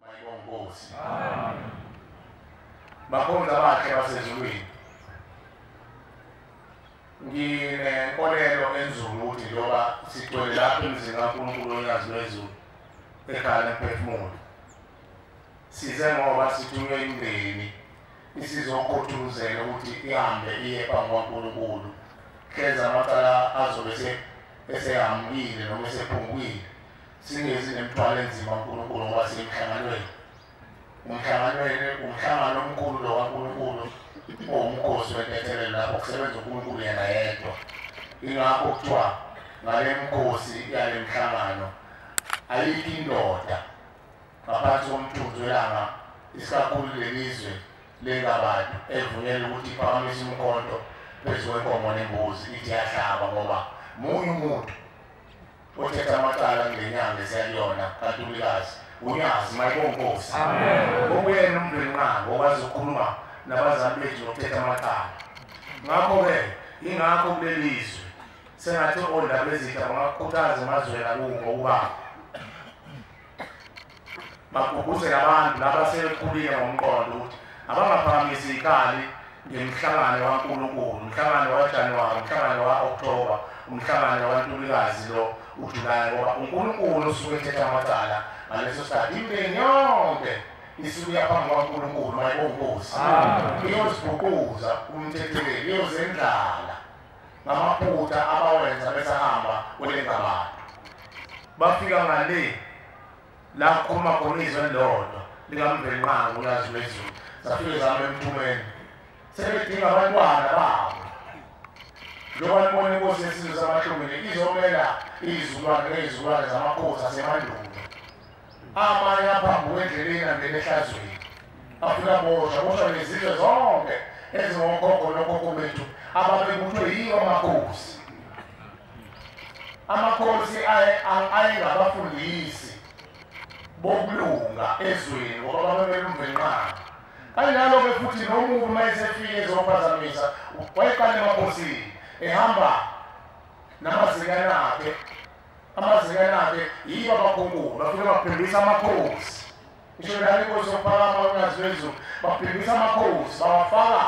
Mayibonge Nkosi. Amen. Bakhonza bakhe basezulwini. Nginenkolelo enzulu ukuthi njengoba sigcwele lapha emzini kaNkulunkulu onyazi lwezulu ekhaya lomphefumulo. Size ngoba sithunywe imndeni isizokhuthuzela ukuthi ihambe iye phambi kwaNkulunkulu. Khenza amacala azobe esehambile noma esephungwile. Singezi nemithwalo enzima uNkulunkulu ngoba semhlanganweni. Umhlanganweni umhlangano omkhulu lo kaNkulunkulu owumkhosi wentethelelo lapho kusebenza uNkulunkulu yena yedwa. Ingakho kuthiwa ngale mkhosi yale mhlangano ayikho indoda ngaphansi komthunzi welanga isikakhulu lelizwe lengabantu evunyelwe ukuthi iphakamisa umkhonto phezu kwenkomo nembuzi ithi yahlaba ngoba munye umuntu Uthetha amacala ngenyanga esiyakuyona kaNtulikazi unyazi mayibonkosi okuyena umndeni nqango okwazi ukukhuluma nabazali bethu nokuthetha amacala ngakho-ke ingakho kuleli zwe sengathi ondaba ezitha bangakukhuthaza emazweni akuko ukuba bagqugquzela abantu laba sebekhulile ngomqondo ukuthi abangaphakamisi ikali ngemhlangano waNkulunkulu umhlangano waJanuwari umhlangano wa-Okthoba umhlangano waNtulikazi lo uJulayi ngoba uNkulunkulu usuke ethetha amacala ngaleso sikhathi imindeni yonke isukuya phambi kwaNkulunkulu mayibongozi iyozibhuquza umthetheleli iyozendlala ngamaphutha abawenza besahamba kule ngabana bafika ngale la kukhuluma khona izwe lodwa likamvelqango ulazi lwezulu zafike zama emthumeni sebedinga abantwana babo njengoba libona inkosi yesizwe samahlungile izomela izizukulwane ngezizukulwane zamakhosi asemandulo amanye aphambi kwendleleni angene ehlazweni afuna bosha bosha nezizwe zonke ezingokhokho nokhokho bethu ababebuthwe yiwo amakhosi amakhosi ayengabafundisi bokulunga ezweni ngoba babebelumvenqana kanjalo-ke futhi nomuntu uma esefike ezophazamisa wayeqala emakhosini ehamba namazikanakhe amazikanake yibo abakhonkulo bafike babhimbisa amakhosi isho lani inkosi yokuphakama unyazi lwezulu babhimbisa amakhosi bawafaka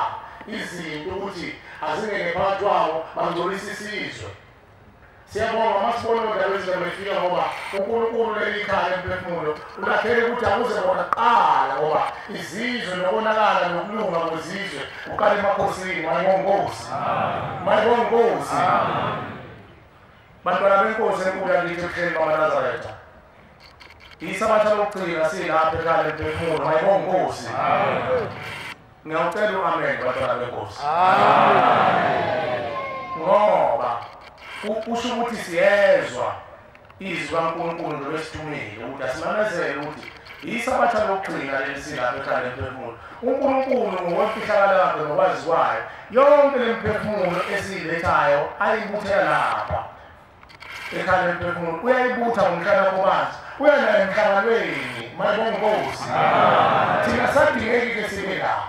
izinto ukuthi azingene phakathi kwawo bangcolisa isizwe siyabonga uma sibona odaba ezindaba efika ngoba unkulunkulu leli khaya emphefumulo ulakhele ukuthi akuze bona kuqala ngoba izizwe nokonakala nokulunga kwezizwe kuqala emakhosini mayibongozi mayibongozi Bantwana benkosi enkulu yakithi ebuhleni bamanazaretha isabatha lokugcina silapha ekhaya emphefumulo hayibo nkosi ngiyawucela u-amen bantwana benkosi ngoba kusho ukuthi siyezwa izwi kankulunkulu nolwesithumile ukuthi asimamezele ukuthi Isabatha lokugcina leli silapha ekhanda emphefumulo. UNkulunkulu ngokwefihlakalo yakhe nokwazi kwayo, yonke le mphefumulo esiyilethayo ayibuthela lapha ekhanda emphefumulo. Uyayibutha ngomhlana kubanzi, uya nayo emhlanganweni, mayibonga inkosi. Thina sadingeki-ke sibe lapha.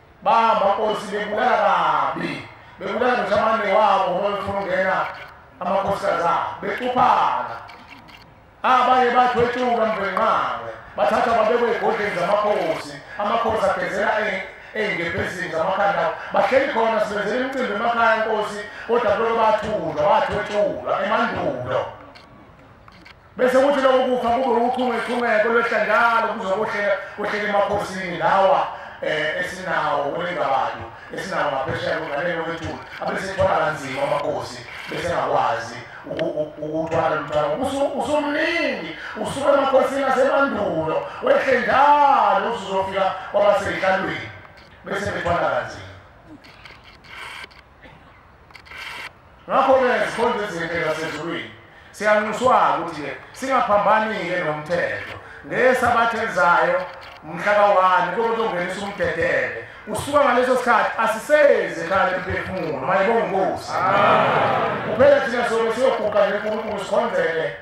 bamakhosi bebulala kabi bebulala ngisho amane wabo ngoba befuna ukungena amakhosikazi abo becuphana abanye bathwetshuka mvenqawe bathatha babekwe ey'godleni zamakhosi amakhosi agezela ey'ngebhezini zamakhanda bahleli khona sibenzela imicimbi emakhaya nkosi kodwa kuloko bathulwa wathwetshulwa emandulo bese kuthi lokho kufa kube uchungechungeko lwehla njalo kuzokohleka kohleka emakhosini lawa um esinawo olengabadu esinawo ngaphesheya kunganele wethula abesethwala kanzima amakhosi besengakwazi ukuthwala lomthwalo usumningi usuke emakhosini asemandulo wehle njalo usuzofika kwabaseyihlalweni bese bethwala kanzima ngakho-ke ngezikhonzo ezinhle zasezulwini siyanxuswa-ke ukuthi-ke singaphambani-ke nomthetho ngesabatha elizayo mhla kawani kube kuzongenisa umdedele usuka ngaleso sikhathi asisezi ekhaya lemphefumulo mayebongosi kuphela thina sobe siyoguqa nje unkulunkulu sikhonzele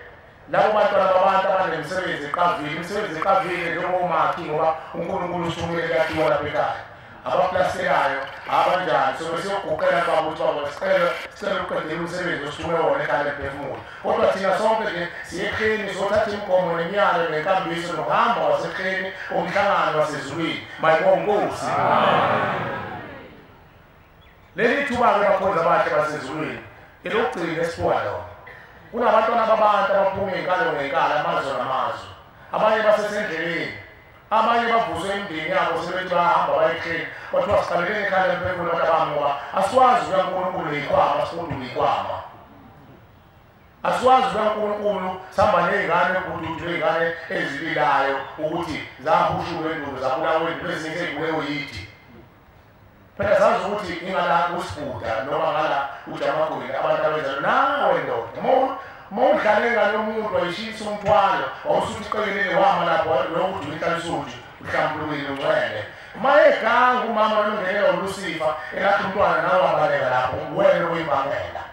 Labo bantwana babantu abanemisebenzi eqavile, imisebenzi eqavile njengomakhi ngoba uNkulunkulu usukumele kuyakhiwa lapha ekhaya. Abaplastikayo, abanjani, sobe siyoguqela baba ukuthi baba sicela sicela uqedele umsebenzi osukume wona ekhaya emphefumulo. Kodwa thina sonke nje siyekheni sothatha imigomo nemiyalo nenkambiso nokuhamba wasekheni umhlangano wasezulwini. Mayibonge Nkosi. Amen. Leli thuba-ke bakhonzi abahle basezulwini elokugcina esiphuka lona. Kunabantwana babantu abaphuma iy'nkalo ngey'nkalo amazwe namazwe. Abanye basesendleleni. Abanye bavuswe imindeni yabo sebethi bayahamba bayekheni. Kwathiwa siqalekeni ekhaya lemphefumulo abantu abami ngoba asikwazi ukuya kuNkulunkulu ngeyikhwama sifunde ngeyikhwama. Asikwazi ukuya kuNkulunkulu sihamba ney'ngane kududu ney'ngane ezibilayo ukuthi zahushuke endulo zabulawe endulo ezinye sey'bulewe yithi. phela sazi ukuthi ingala kusibuda noma ngala ujamakweni abantu abenza nawe ndoda uma udlale ngalo muntu wayishisa umthwalo wawusuthi uqekelele wama lapho lokuthi uyinhlansuthi uhlambulukile ungcwele uma eganga umama olungele olusifa elathi umntwana nawe wabaleka lapho wena uyibangela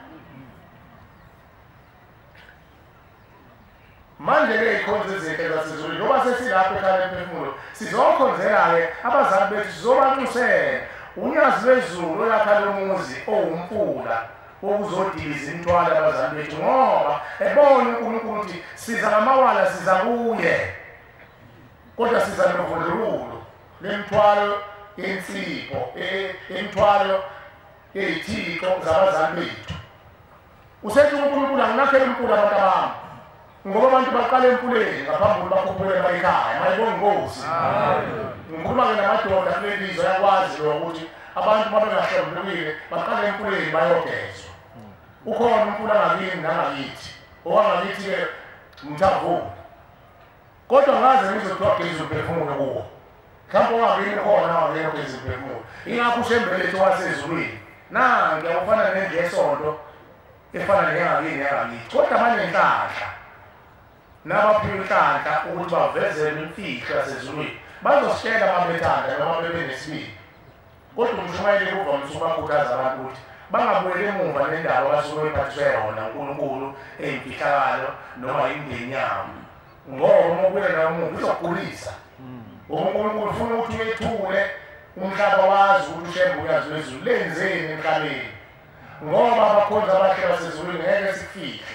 manje-ke ikhonza ezinhle zasezulwini ngoba sesilapho ekhaya emphefumulo sizokhonzela-ke abazali bethu sizobanxusela unyazi lwezulu olakha lomuzi owumfula wokuzodiliza imithwalo abazali bethu ngoba ebona unkulunkulu ukuthi siza ngamawala siza kuye kodwa siza novundululo lemithwalo yensipho e, e, imithwalo yeyithixo zabazali bethu usethi unkulunkulu anginakhela umkulu abantu abami ngoba abantu baqala emfuleni ngaphambi kokuba bakhuphule bayikhaya mayibonga inkosi ngikhuluma-ke namadoda kule lizwe ayakwazi lo ukuthi abantu babengahlambulukile baqala emfuleni bayogezwa ukhona umfula ngakini nangakithi owangakithi-ke mthavuni kodwa ngaze ngizwe kuthiwa geza umphefumulo kuwo mhlawumbe ungabini khona wangena ugeza umphefumulo ingakho ushembelethu wasezulwini na ngiyakufana nendlu yesonto efana neyangakini yangakithi kodwa banenhlanhla nabaphiwa inhlanhla ukuthi bavezele imfihlo yasezulwini bazositshela babethanda noma bebenesibili Kodwa umshumayeli kuvamise ukubakhuthaza abantu ukuthi bangabuyeli emuva nendawo abasuke bephathiswe yona uNkulunkulu eyimfihlakalo noma imindeni yabo ngoba uma ubuyela umuva uzokugulisa ngoba uNkulunkulu ufuna ukuthi uyethule umhlaba wazi ukuthi ushembe uyazi wezulu lenzeni emhlabeni ngoba abakhonzi abahle basezulwini ngeke sifihle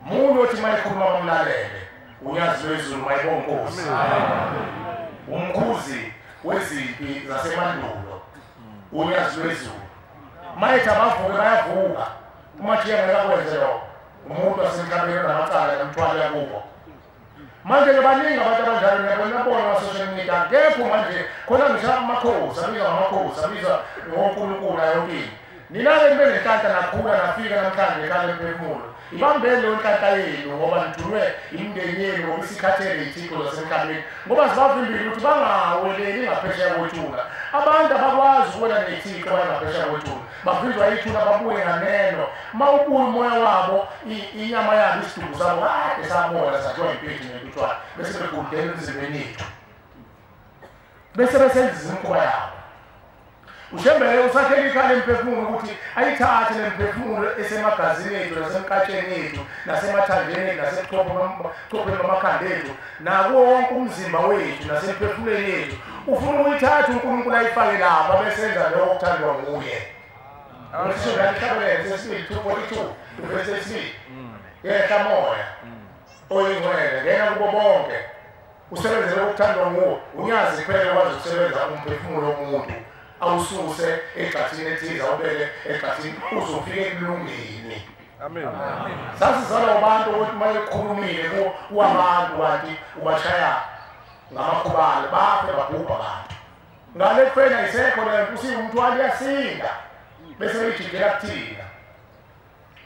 Mungu othi mayikhuluma bamlalele unyazi lwezulu mayibonkosi umkhuzi wezimpi zasemandulo unyazi lwezulu mayethi abavuke bayavuka umajiya ngeke akwenze lokho umuntu wasemhlabeni onamacala nomthwalo yakubo manje-ke baningi abantu abanjalo niyabonabona basosha imida kepho manje khona ngisha amakhosi abizwa ngamakhosi abizwa ngonkulunkulu ayonkini nina-ke nibe nenhlanhla nakhula nafika namhlanje ekhale emphefumulo ibambeni leyo nhlahla yenu ngoba nithunwe imindeni yenu ngoba isikhathele iy'thixo zasemhlabeni ngoba zibavimbile ukuthi bangaweleli ngaphesheya kwethula abantu abakwazi ukuwela ney'thixo baye ngaphesheya kwethula bafike bayithula babuye nganeno uma ubuye umoya wabo inyama yabo isidumbu sabo kade sabona sathiwa impinji nentutshwana bese begudela emzimbeni yethu bese besenza izimkhuba yabo ushembele usakhela ikhala emphefumulo ukuthi ayithathe le mphefumulo esemagazini ethu nasemkatsheni ethu nasemathanjeni ethu nasebuchopheni bamakhanda ethu nakuwo wonke umzimba wethu nasemphefumulweni yethu ufuna ukuyithatha unkulunkulu ayifake lapha besenza lokho kuthandwa nguye ngishoahlabelele sesibili two forty two ivesi esibili yehla moya oyingcwele ngena kubo bonke usebenzele okuthandwa nguwo unyazi kuphele kwazi ukusebenza umphefumulo womuntu awususe egxathini ethize awubeke egxathini uzofike ekulungeni Amen. Sasizalwa abantu ukuthi uma ekhulumile kuwabantu kanti ubashaya ngamakhubalo bafe babhubha abantu. Ngale kufena isekho le nto usiwumthwalo uyasinda bese uyijikela kuthina.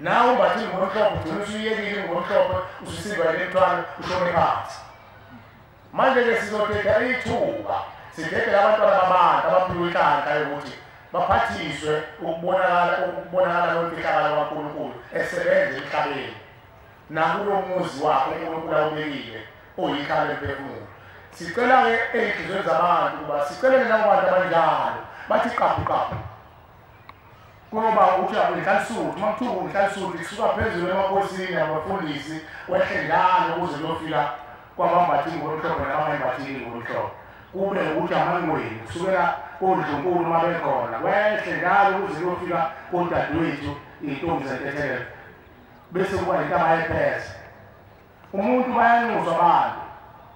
Nawe umbathi ngomhlophe ugcina usuyekile ngomhlophe ususiva le mthwalo ushone phansi. Manje-ke sizodeda ithuba sidedele abantwana babantu abaphiwe inhlanhla yokuthi baphathiswe ukubonakala ukubonakala kwemfihlakalo kaNkulunkulu esebenza emhlabeni nakulo muzi wakhe uNkulunkulu awubekile oyikhalo emphefumulo sicela-ke ey'nhliziyweni zabantu ukuba sicelele nabo bantu abanjalo bathi qabhu qabhu kuyoba ukuthi akuyihlalisuthi uma kuthiwa kuyihlalisuthi kusuka phezulu emakhosini abafundisi kwehle njalo kuze kuyofika kwabambathini ngolumhlophe nabangembathini ngolumhlophe kube ukuthi amangweni kusukela kondlunkulu uma bekhona kwehle njalo kuze kuyofika kodadewethu iy'ntombi zentethelelo bese kuba yintaba yephese Umuntu bayanxuswa bani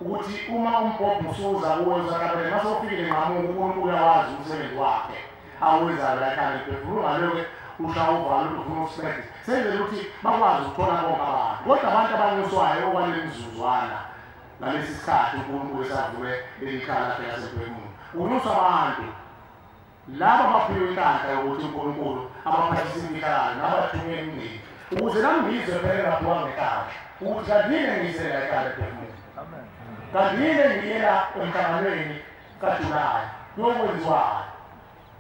ukuthi uma umbhobho usuza kuwe usatabele mase ufikile nqamuka uNkulunkulu uyawazi umsebenzi wakhe awenzayo lakhana liphefumula ngaloke ushawa uvalo ukuthi ufuna usibethi senzela ukuthi bakwazi ukuthola bonke abantu kodwa abantu abanxuswayo okwaleli mzuzwana ngalesi sikhathi uNkulunkulu esavume leli khala lakhe lasemphefumulo unxusa abantu Laba baphiwe inhlanhla yokuthi uNkulunkulu abaphathise imfihlakalo nabathunywe emndeni ukuze nangizwe phela ngabhuka ngekhaya ukuthi kanti yini engiyise la ekhaya ephefumula kanti yini engiyela emhlanganweni kajulayi yokwenziwayo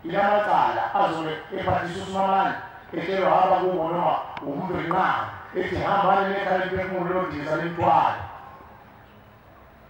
ilamacala azobe ephathisa usimamane etshelwa hamba kubo noma umntu ethi hambani nekhaya eliphefumulo londiza limthwala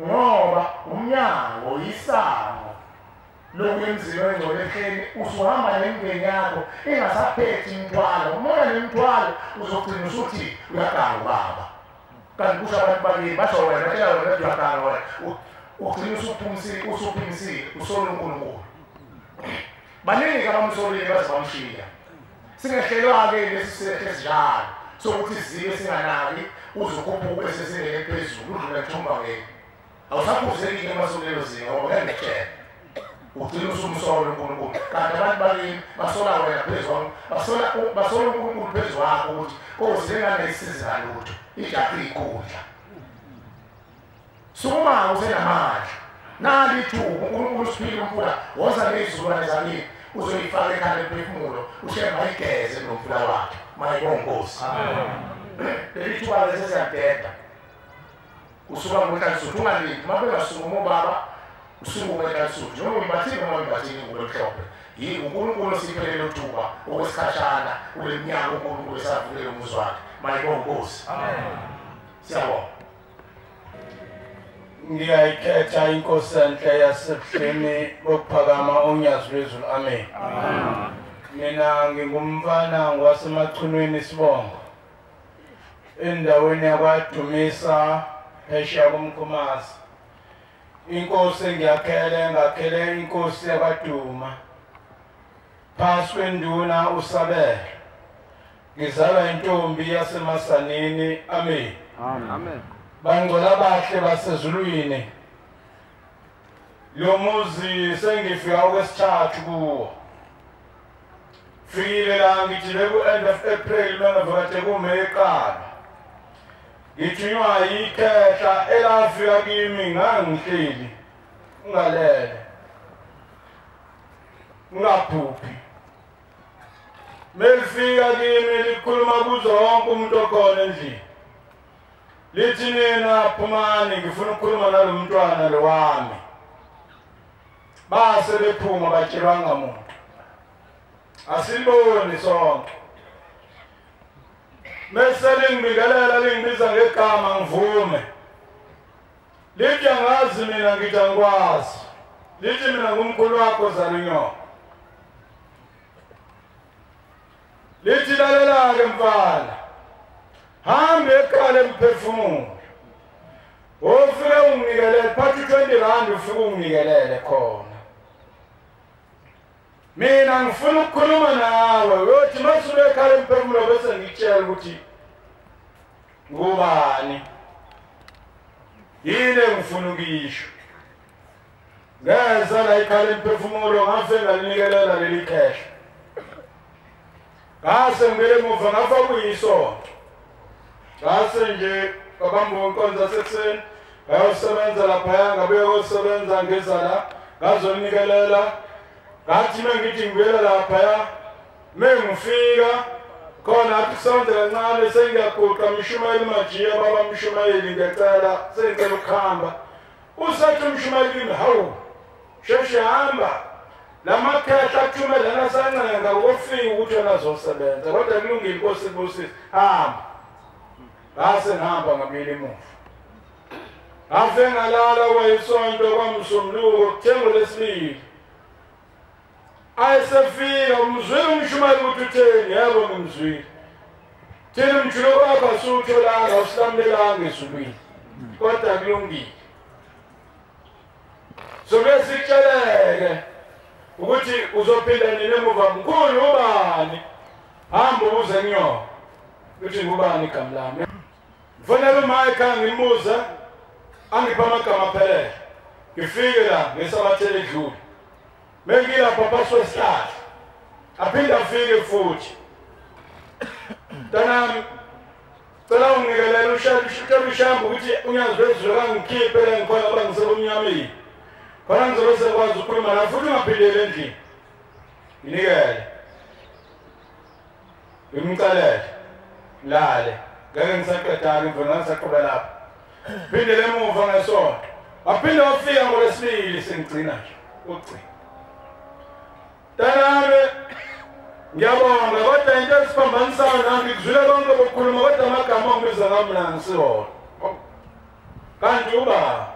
ngoba umnyango yisango lokuya emzini wengcwele ehleni usuhamba nemndeni yakho ingasaphethi imithwalo umona nemithwalo uzogcina usuthi uyaganga ubaba kanti kusho abantu bakini basho wena batshela wena ukuthi uyaganga wena ugcina usuphumisile usuphimisile usole unkulunkulu baningi abamsolile baze bamshiya Singehlelwa-ke lesi silehle esinjalo sokuthi sizibe singanaki uze ukhuphuke sesingene eliphezulu udlule mthombangeni awusaphuzeki-ke uma sukulelo zinga ngoba ngeke ngitshela ugcina usumsola unkulunkulu kanti abantu bakini basola wena phezu kwam basola basola unkulunkulu phezu wakho ukuthi kozi lengane isiza lutho ijahe iyikhundla Sukuma usenamandla. Nali ithuba uNkulunkulu usiphile umfula woza nezizukulwane zamile uzoyifaka ekhanda emphefumulo ushemba igeze nomfula wakhe mayikonkosi leli thuba lesi siyadeda usuka ngokalisuthu ungalindi uma bengasukuma ubaba usukume ekalisuthu njengoba uyibathile noma uyibathile ngulo mhlophe yini unkulunkulu osiphelele uthuba okwesikhashana kule minyaka unkulunkulu esavulela umuzi wakhe mayikonkosi siyabonga ngiyayikhetha inkosi enhle yasebuhleni bokuphakama onyazi lwezulu amen mina ngingumfana ngwasemachunwini isibongo endaweni yakwadumisa phesheya komkhumasi inkosi engiyakhele ngakhele inkosi yakwaduma Phansi kwenduna uSabelo. Ngizalwa intombi yasemasanini. Amen. Amen. Bangcola abahle basezulwini. Lo muzi sengifika okwesithathu kuwo. Fikile la ngithi beku end of April mina vakate kuMay eqala. Ngithunywa yikhehla elafika kimi ngangihleli ngalele. ungaphuphi melifika kimi likhuluma kuzo wonke umuntu okhona endlini lithi nina phumani ngifuna ukukhuluma nalo mntwana lo wami base bephuma batshelwanga muntu asiliboni sonke mese lingibikelela lingibiza ngegama ngivume Lithi angazi mina ngithi angikwazi. Lithi mina ngumkhulu wakho Zarinyo. Lithi lalela-ke mfana. Hambe ekhale mphefumulo. Ofike ungikelele phathi 20 rand ufike ungikelele khona. mina ngifuna ukukhuluma nawe uyothi masube ekhale mphefumulo bese ngitshela ukuthi Ngubani? Yini engifuna ukuyisho? Ngeza la ikhala imphefumulo ngafe ngalinikelela leli khehla. Ngase ngibele emuva ngafa kuyisonto. Ngase nje babamba inkonzo yasekuseni ngayosebenza laphaya ngabuye kosebenza ngeza la ngazonikelela ngathi uma ngithi ngibuyela laphaya Mengifika khona athi sonke kancane sengiyaguqa mshumayeli majiya baba mshumayeli ngiyacela sengicela ukuhamba usethi umshumayeli kimi hawu sheshe hamba lamakhehla athumele nasancenga ukufika ukuthi yona azosebenza kodwa kulungile inkosi ibusise hamba ngase ngihamba ngabili emuva ngase ngalala kwayisonto kwamsumluko kuthengo lesibili ayesefika umzwile umshumayeli ukuthi utheni yebo ngimzwile thina umjilo wakho asiwutholanga usilamulelanga ezulwini kodwa kulungile sokuye sitsheleke ukuthi uzophila nini emuva mkhulu ubani hamba ubuze kunyona ukuthi ngubani igama lami Ngifonela uMaika ngimbuze angipha amagama aphelele. Ngifike la ngesabathele edlule. Bengilapha phakathi kwesihlahla. Aphinde afike futhi. Mntanami cela ungikelele ushutshela ushamba ukuthi unyazi lwezulu kangikhiphe la ngikhona uba ngisebumnyameni. Khona ngizobe sekwazi ukukhuluma la futhi ungaphindeli endlini. Nginikele. ngimcelele lale ngeke ngisaqedani ngivona ngisaqhuba lapha phinde lemuva ngesonto waphinde wafika ngolwesibili sengigcina nje ukugcina tanami ngiyabonga kodwa into esiphambanisayo nami ngizwile konke bokukhuluma kodwa amagama ongibiza ngamna ngisiwona kanti uba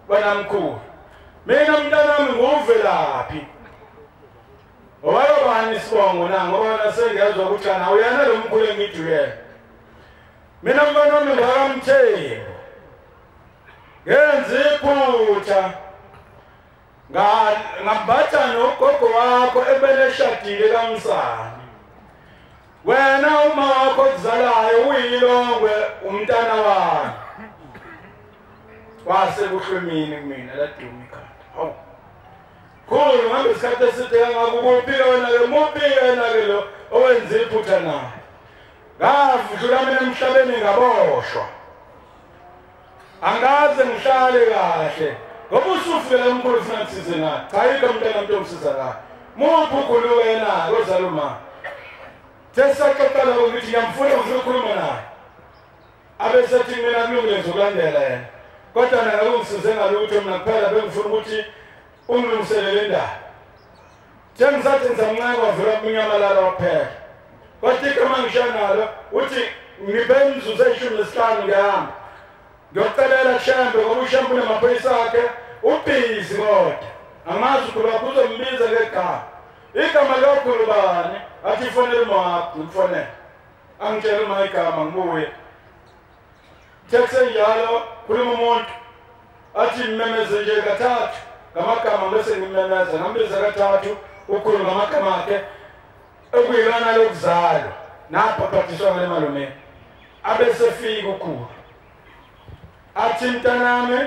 banamkhulu mina mntanami nguvelaphi Owayobani isibongo na ngoba wena sengezwa ukuthi kana uyena lo mkhulu engiduyela. Mina mfana wami ngakamtheni. Ngenza iphutha. Nga ngabatha nogogo wakho ebeleshadile kamsana. wena uma wakho okuzalayo uyilongwe umntana wakhe wase kuhlwemini kumina laduma ikhanda hawu Khulu ngabe isikhathi eside kangaka ukuphi wena-ke muphi yena-ke lo owenza iphutha na ngavudlula mina emhlabeni ngaboshwa angaze ngihlale kahle ngoba usufike lamkhulu funa kusize na cha yikho mntana mntu omsiza kahle muphi ukhulu wena kozaluma sesaxoxela ukuthi ngiyamfuna ngifuna ukukhuluma naye abesethi kumina kulungile ngizokulandela yena kodwa nakakungisize ngalutho mina kuphela bengifuna ukuthi ungilungiselele indaba njengisathi ngizamncane wavula kunyamalala waphela kodwa igama ngisho nalo uthi ngibe imizuzu eyishumi nesihlanu ngihamba ngiyocelela kushembe ngoba ushembe unamaphoyisa akhe ubhizi kodwa amazi ukhuluma kuzombiza ngegama igama lokhulubani athi ifonele umawakho ngifonele angitshela uma igama ngibuye tesenjalo khuluma umuntu athi ngimemeze nje kathathu ngamagama bese ngimemeza ngambiza kathathu ukhuluma ngamagama akhe okuyilona lokuzalwa nabhabhadiswa ngale malume abesefika ukhulu athi mntanami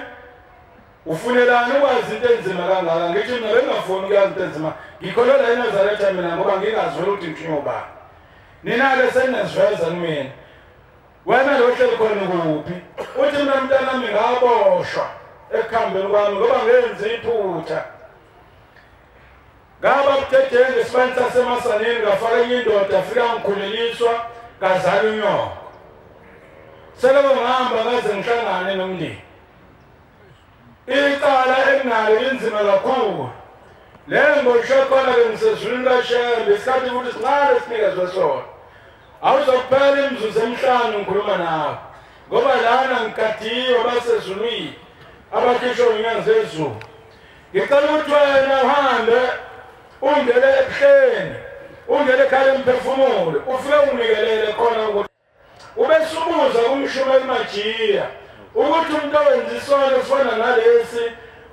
ufunelani ukwazi into enzima kangaka ngithi mina bengafuni ukuyazi into enzima ngikholelwa enazaretha mina ngoba ngingazweli ukuthi ngithunywa ubani Nina-ke seniziveza kumina. Wena lo ohleli khona kuphi? Uthi mina mntanami ngaboshwa ekuhambeni kwami ngoba ngenze iphutha. Ngaba budedengu ngesibani sasemasaneni ngafaka enye indoda afika ngikhuleliswa ngazala unyoko. Seloko ngihamba ngaze ngihlangane nomndeni. Icala enginalo linzima kakhulu. Le mbosho khona ke ngisezulwini kaShembe isikhathi ukuthi sincane sinikezwe sona. Awuzokuphela imizuzu emihlanu ngikhuluma nawe. Ngoba lana ngigadiwe basezulwini abakhishwe ngenyanga zezulu. Ngicela ukuthi wena uhambe ungene ebuhleni ungene ekhaya emphefumulo ufike unginikelele khona ukuthi Ubesubuza kumshumayeli Majiya ukuthi umuntu owenza isono esifana nalesi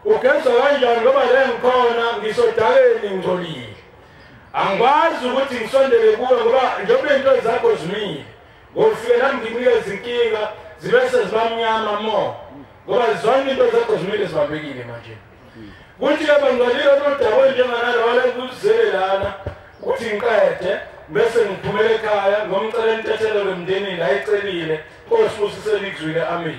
ugezwa kanjani ngoba le ngikhona ngisodakeni ngcolile. Angikwazi ukuthi ngisondele kuwe ngoba njengoba into zakho zimile ngofike nami nginika izinkinga zibe sezibamnyama mo ngoba zonke into zakho zimile zibambekile manje. kuthi ke bangcolile nodaba olunjenganalo walengikuzele lana ukuthi ngiqede bese ngiphumela ekhaya ngomcela intethelelo emndenini ayicelile kosibusisele ikuzwile amen